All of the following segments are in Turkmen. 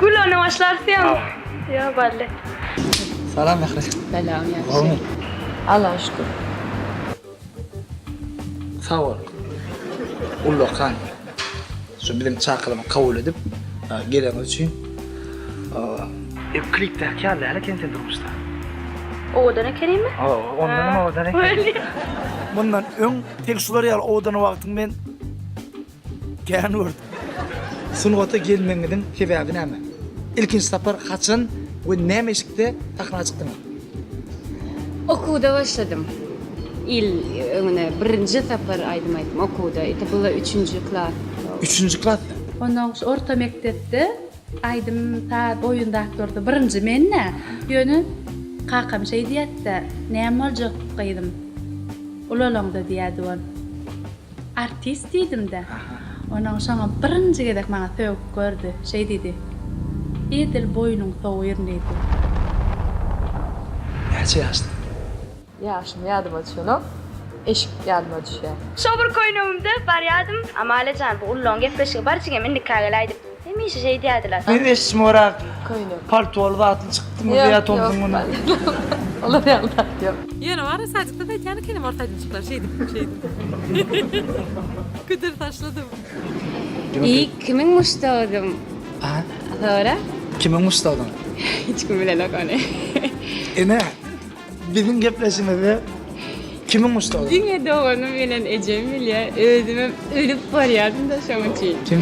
Gülüne başlarsyň. Yo belli. Salam Mähri. Salam ýagşy. Allaha şükür. Sag bol. Ullakan. Şu biziň çakylymy kabul edip geleniň üçin. Ew klipdäki ýaly däl eken sen durmuşda. Owadan ekenimi? Hawa, ondan hem owadan eken. Mundan öň tek şular ýaly owadan wagtyň men Kän gördüm. Sungata gelmegiňiziň sebäbi näme? Ilkinji sapar haçan we näme eşikde sahna çykdyňyz? Okuwda başladym. Il öňüne birinji sapar aýdym aýtdym okuwda. Ete bula üçünji klas. Üçünji klasda? Ondan goşa orta mekdepde aýdym saz oýun zatlarda birinji men-dä. Ýöne kakam şeý diýerdi-de, Näme boljak gyzym, ulalaňda diýerdi ol. Artist diýdim-dä. Onuň şoňa birinji gezek maňa sögüp gördi. Şeý diýdi, Edil boýnuň sowýryn diýdi. Näçe ýaşda? Ýaşym ýadyma düşenok. Eşik ýadyma düşýär. Şo bir köýnegimde barýadym. Amalia jan, bu Ululaň gepleşigi bar jigim, indikä gel aýdyp. Hemişe şeýt ýadylar. Sen eşşim orak köýnek paltoly zatly çykdyňmy ýa tomsuň muny. Olar ýaly zat ýok. Ýöne wara sadikden aýtýan ekenim ors aýdymçyklar şeýdip şeýdip pidr taşladym. Iý kimiň muşdagydyň sora. Kimiň muşdagydyň. Hiç kim bilenok ony. Ene. Biziň gepleşigimizde kimiň muşdagy? Diňe doganym bilen ejem bilýär. Özümem ölüp barýardym-da şoň üçin. Kim?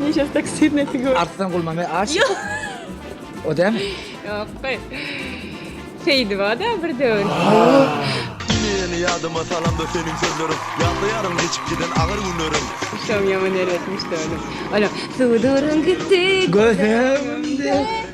Nişe taksir ne figur. Arslan Gulmame aş. Ýok. O dämi? Ýok goý. Seýdiba-da bir döwür. Ine-ine ýadyma salamda seniň sözleriň Ýatlaýaryn geçip giden agyr günlerim. Şoň ýaman erbet muşdagyny. Olam. Suduryň gitdi göz öňümde.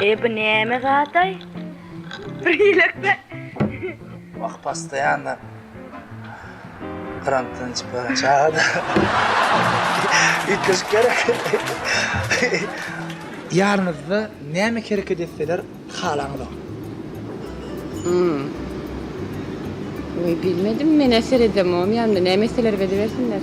Eý bu näme zataý? Bir ýelekde. Wah pastaýanna grantdan içip ýören çagada. Üýtgeşik gerek. Ýanyňyzda näme hereket etseler halaňyzok? Hum. Oý bilmedim menä seredemogam ýanymda näme etseler edibersinler.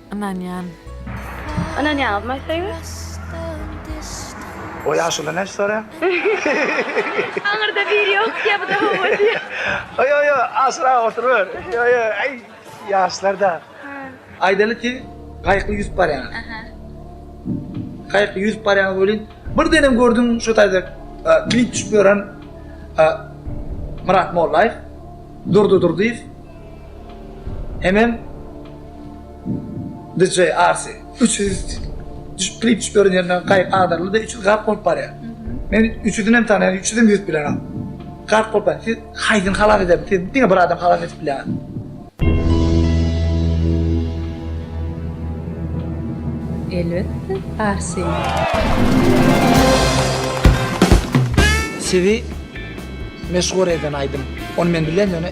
ynanýan. Ynanýaňyz my favorite. O ýaşuly näçe soraýaň? Aňyrda biri ýok diýýä buda hawa diýýä. Ýo ýo aşyrak oturyber. Ýo ýo aý ýaşlar da. Aýdaly siz gaýykly ýüzüp barýaňyz. Aha. Gaýykly ýüzüp barýaňyz welin birdenem gördüm şo taýda klip düşüp ýören Myrat Mollaýew, Durdy Durdyýew. Hemem DJ Arsi üç ýüz düşüp klip düşüp ýören ýerinden gaýyk agdaryldy-da üç ýüz gark bolup barýar. Men üç ýüzünem tanaýan, üç ýüzem ýüz bilenem. Gark bolup barýar. Siz haýsyny halas edersiňiz? Siz diňe bir adamy halas edip bilýäňiz. Elbetde, Arsini. Sizi meşhur eden aýdym. Ony men bilýän ýöne.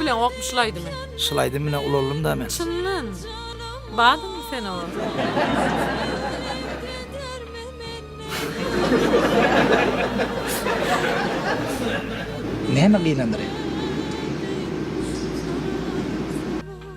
Bileňokmy şul aýdymy. Şul aýdym bilen ulaldym da men. Çyndan. Badymmy sen oňa. Näme gynandyr indi.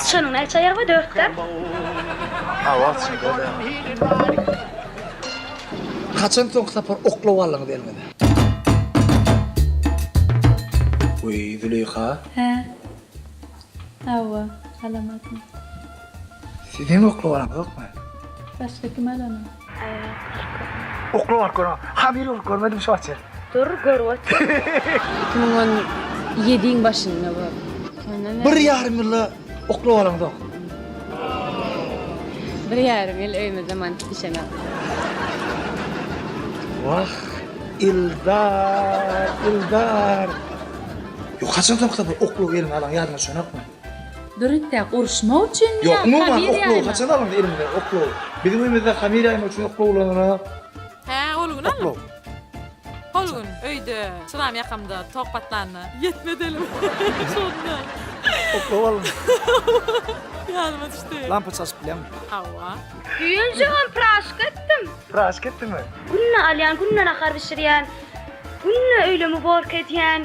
Syçanyň näçe aýagy bar? Dörtdämi? Hawa, çynda-da dörtdämi. Haçan soňky sapar oklaw aldyňyz eliňize? Weý, Züleýha. Hä? Hawa, alamadym. Siz hem oklaw alaňyzokmy? Başga kim alany? Okla var kora. Ha bir yok görmedim şu açar. Dur gör ot. 2017-iň başynda bu. Bir yarım yılda okla olan zor. Bir yarım yıl öýümizde mantyk bişenok. Vah Ildar, Ildar. Yok kaçak nokta bu oklu gelin alan yardım şonakmı? Dürtde uruşmak üçinmi ýa hamir ýaýmak? Ýok, umuman oklow haçan alyndy elimize oklow? Biziň öýümizde hamir ýaýmak üçin oklow ulanarys. Hä, ol gün alnyp. Oklow. Ol gün öýde çyram ýakamda tok patlanda ýetmez elim. Şonda. Oklow alyndy. Ýadyma düşdi. Lampa çalşyp bilýäňmi? Hawa. Süýenjigim praşka etdim. Praşka etdiňmi? Günde alýan, günde nahar bişirýän, günde öýle muborka edýän.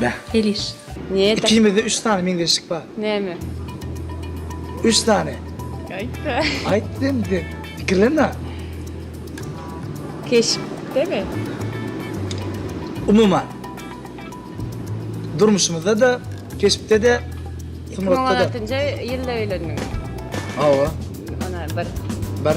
Beh. Heliş. Neda. Ikimizde üç sany meňzeşlik bar. Näme? Üç sany. Aýtda. Aýt diýdim de. Pikirlenme. Keşpdemi? Umuman. Durmuşymyzda da, keşpde de, Iki müň on altynjy ýylda öýlendiňiz. Hawa. Ana bir. Bir.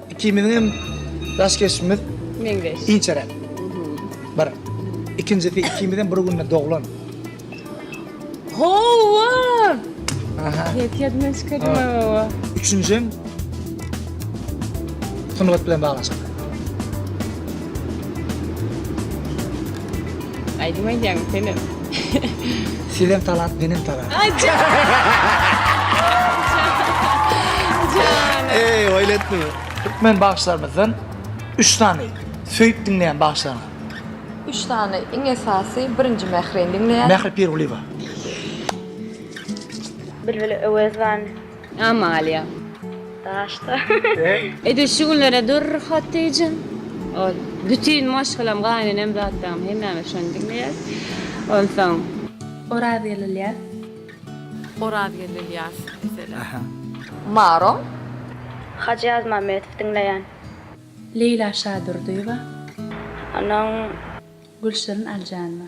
Ikimiziň hem ýaş geçmişimiz meňzeş. Inçeräk. Bir. Ikinjisi ikimiz hem bir günde doglan. Hawa! Aha. Ýet ýadymdan çykardyň hawa. Üçünji hem sungat bilen baglaşykly. Aýdym aýdýaňmy senem? Sizem talant, menem talant. Ay can. Canım. Eý, oýletdi. Türkmen bagşylarymyzdan üç sany söýüp diňleýän bagşylaryňyz. Üç sany iň esasy birinji Mährini diňleýän. Mähri Pirgulyýewa. Bilbil Öwezowany. Amalia. Daşda. Edil şu günlere dur Hatice. Ol bütün maşgalam gaýnenem zatlam hemmemiz şony diňleýäs. Onsoň Orazgel Ilyas. Orazgel Ilyas diýseler. Maro. Hajy Azmametow diňleýän. Leýla Şadurdyýewa. Onuň. Gülşirin Aljanowa.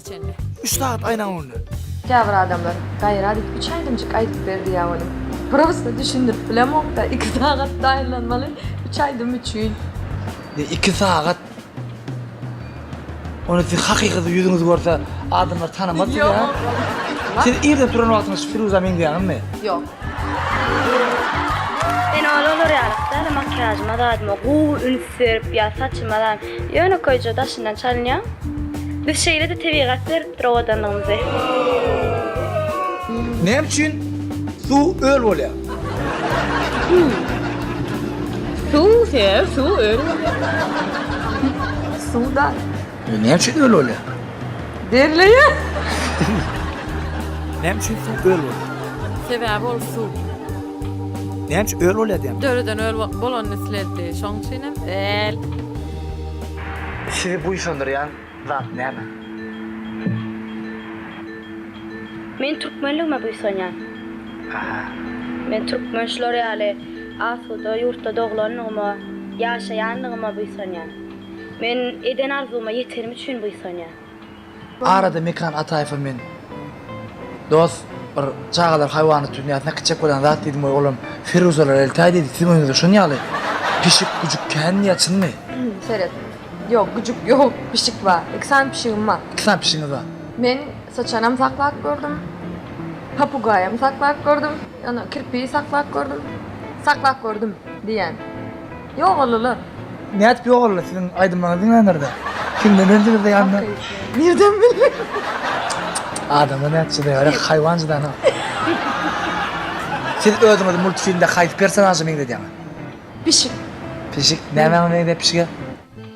Üç sagat aýnaň öňünde. Käbir adamlar, Gaýrat et, üç aýdymjyk aýdyp ber diýýär onuň. Prosda düşündirip bilemok-da, iki sagat taýynlanmaly üç aýdym üçin. Ýe, iki sagat. Ony siz hakyky ýüzüňizi görse, adamlar tanamaz sizi-ä. Siz irden turan wagtyňyz şu Firuza meňzeýäňizmi? Ýok. Men ol olar ýalyk däl, makiýažyma zadyma gowy üns berip ýa saçyma da ýönekeýje daşyndan çalynýan. Biz şeýle-de tebigat beripdir owadanlygymyzy. Näme üçin suw öl bolýar? Suw, he, suw öl bolýar. Suw da Bu näçe göl bolýar? Derleýär. Näme üçin suw göl bolýar? Sebäbi ol suw. Näme üçin öl bolýar diýen? Döreden öl bo- bolanyny islerdi. Şoň üçin hem öl. Sizi buýsandyrýan zat näme? Men türkmenligime buýsanýan. Aha. Men türkmen şular ýaly asuda ýurtda doglandygyma, ýaşaýandygyma buýsanýan. Men eden arzuwyma ýetenim üçin buýsanýa. Arada Mekran Ataýewa men dos bir çagalar haýwanat dünýäsine kiçek bolan zat diýdim we olam Firuzalar eltäý diýdi siziň öňüňizde şon ýaly pişik güjük kän diýýä çynmy? Seret. Ýok güjük ýok pişik bar. Iki sany pişigim bar. Iki sany pişigiňiz bar. Men syçanam saklap gördüm. Papugaýam saklap gördüm. Ýa kirpigi saklap gördüm. Saklap gördüm diýýän. Ýogalylar. Nädip ýogaldy siziň aýdymlaryňyz diňlänlerde? Kimden öňdüňizde ýandy? Nirden bildi? Adamlar nädip çydaýar, haýwan çydana. Siz özüňizi multfilmde haýsy personaža meňzedýäňiz? Pişik. Pişik, nämäňe meňzäp pişige?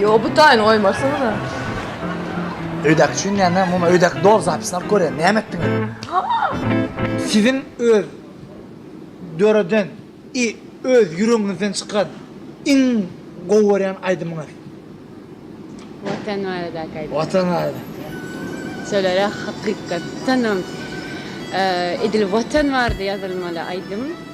Ýo bu taýyny goýmarsyňyza. Öýdäki üçin näme? Muny öýdäki doly zapisini alyp görýän. Näme etdiňiz? Siziň öz döreden i öz ýüregiňizden çykan iň gowy görýän aýdymyňyz? Watan baradaky aýdym. Watan barada. Şolara hakykatdanam edil Watan barada ýazylmaly aýdym.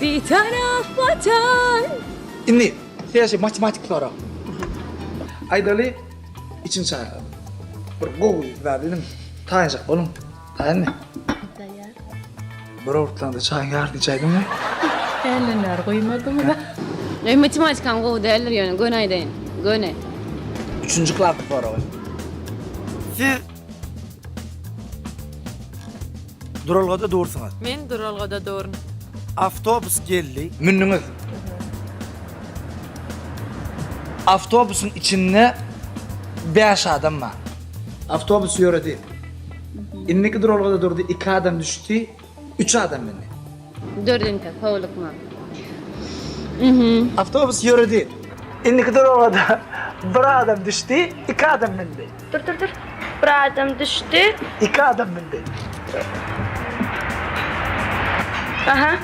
Bitaraf Watan! Indi täze matematik sorag. Aýdaly, içim çaýlap. Bir gowy zat idim, taýynjak boluň. Taýynmy? Taýýar. Bir owurtlanda çaýyň ýarysyny içäýdiňmi? Äýlener guýmadymy-da. Meň matematikam gowy däldir ýöne göni aýdaýyn. Göni. Üçünji klasyň soragy. Siz Duralgada dursuňyz. Men duralgada durun. Awtobus geldi. Mündiňiz. Awtobusyň içinde bäş adam bar. Awtobus ýöredi. Indiki duralgada durdy, iki adam düşdi, Üç adam mindi. Dördünjä howlukma. Awtobus ýöredi. Indiki duralgada bir adam düşdi, iki adam mindi. Dur, dur, dur. Bir adam düşdi. Iki adam mindi. Aha.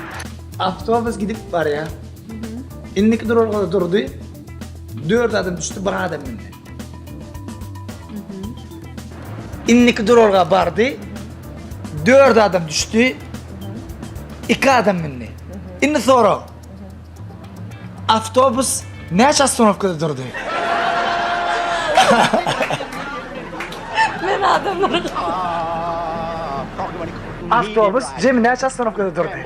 Awtobus gidip barýar. Indiki duralgada durdy. Dört adam düşdi, bir adam mindi. Indiki duralga bardy. Dört adam düşdi. Iki adam mindi. Indi sorag. Awtobus näçe ostanowkada durdy? Men adamlara Awtobus jemi näçe ostanowkada durdy?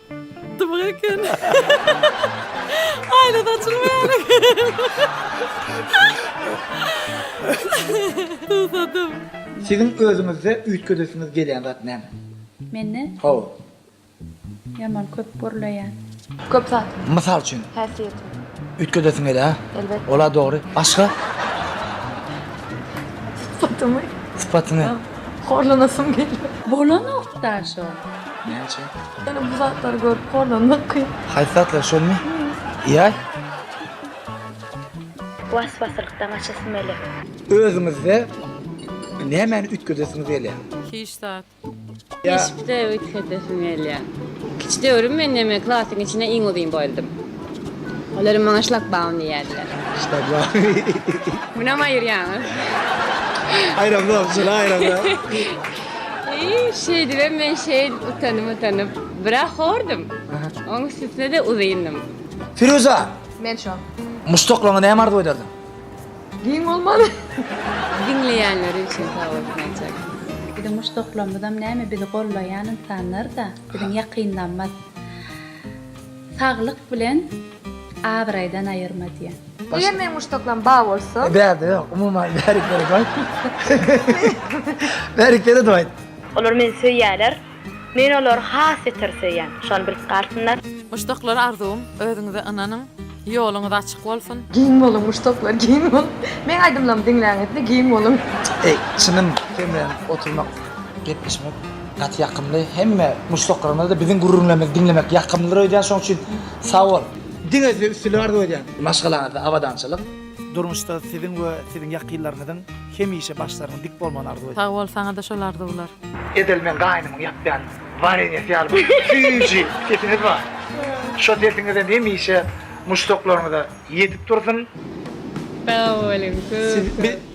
Dymyk eken. Aýna saçylmaýar eken. Susadym. Siziň özüňizde üýtgedesiňiz gelýän zat näme? Mende? Hawa. Ýaman köp gürleýän. Köp zat. Mysal üçin? Häsiýetim. Üýtgedesiň gelýär, hä? Elbetde. Ol-a dogry. Başga? Sypatymy. Sypatyňy. Horlanasym gelýär. Bolanok daşo. Näçe? Ýöne bu zatlary görüp horlanmak kyn. Haýsy zatlar şolmy? Ýaý. Was-waslykdan gaçasym gelýär. Özüňizde nämäni üýtgedesiňiz gelýär? Hiç zat. Keşpde üýtgedesim gelýär. Kiçi döwrüm men näme klasyň içinde iň uzyn boldum. Olar maňa şlagbaum diýýärler. Şlagbaum. Munam aýyrýaňyz. Aýramzok, şuny aýramzok. Şeýdibem men şeýl utanyp-utanyp, biraz hordum. Oň üstüne-de uzyndym. Firuza! Men şu. Muşdaklaryňa näme arzuw ederdiň? Giň bolmaly. Diňleýänleri üçin sag bolsun aýtjak. Biziň muşdaklarymyzam näme bizi gollaýan ynsanlar-da, biziň ýakynlarymyz. Saglyk bilen abraýdan aýyrma diýen. Eger meň muşdaklam ba bolsa. Bärde ýok umuman bärik berek aýt. Bärik beredip aýt. Olar meni söýýärler. Men olary has beter söýýän. Şony bilip galsynlar. Muşdaklar arzuwym özüňize ynanyň ýoluňyz açyk bolsun. Giň boluň muşdaklar giň boluň. Meň aýdymlarymy diňläňizde giň boluň. Eý çynym kem bilen oturmak gepleşmek. Gaty ýakymly hemme muşdaklaryňyzda biziň gürrüňlerimizi diňlemek ýakymlydyr öýdýän şoň üçin sagbol. Diňe size üstünlik arzuw edýän. Maşgalaňyzda abadançylyk. Durmuşda siziň we siziň ýakynlaryňyzyň hemişe başlarynyň dik bolmagyny arzuw edýän. Sagbol saňada şol arzuwlar. Edil men gaýnymyň ýapýan warenýesi ýaly bir süýji sesiňiz bar. Şo sesiňizem hemişe muşdaklaryňyza ýetip dursun. Sag boluň köp köp.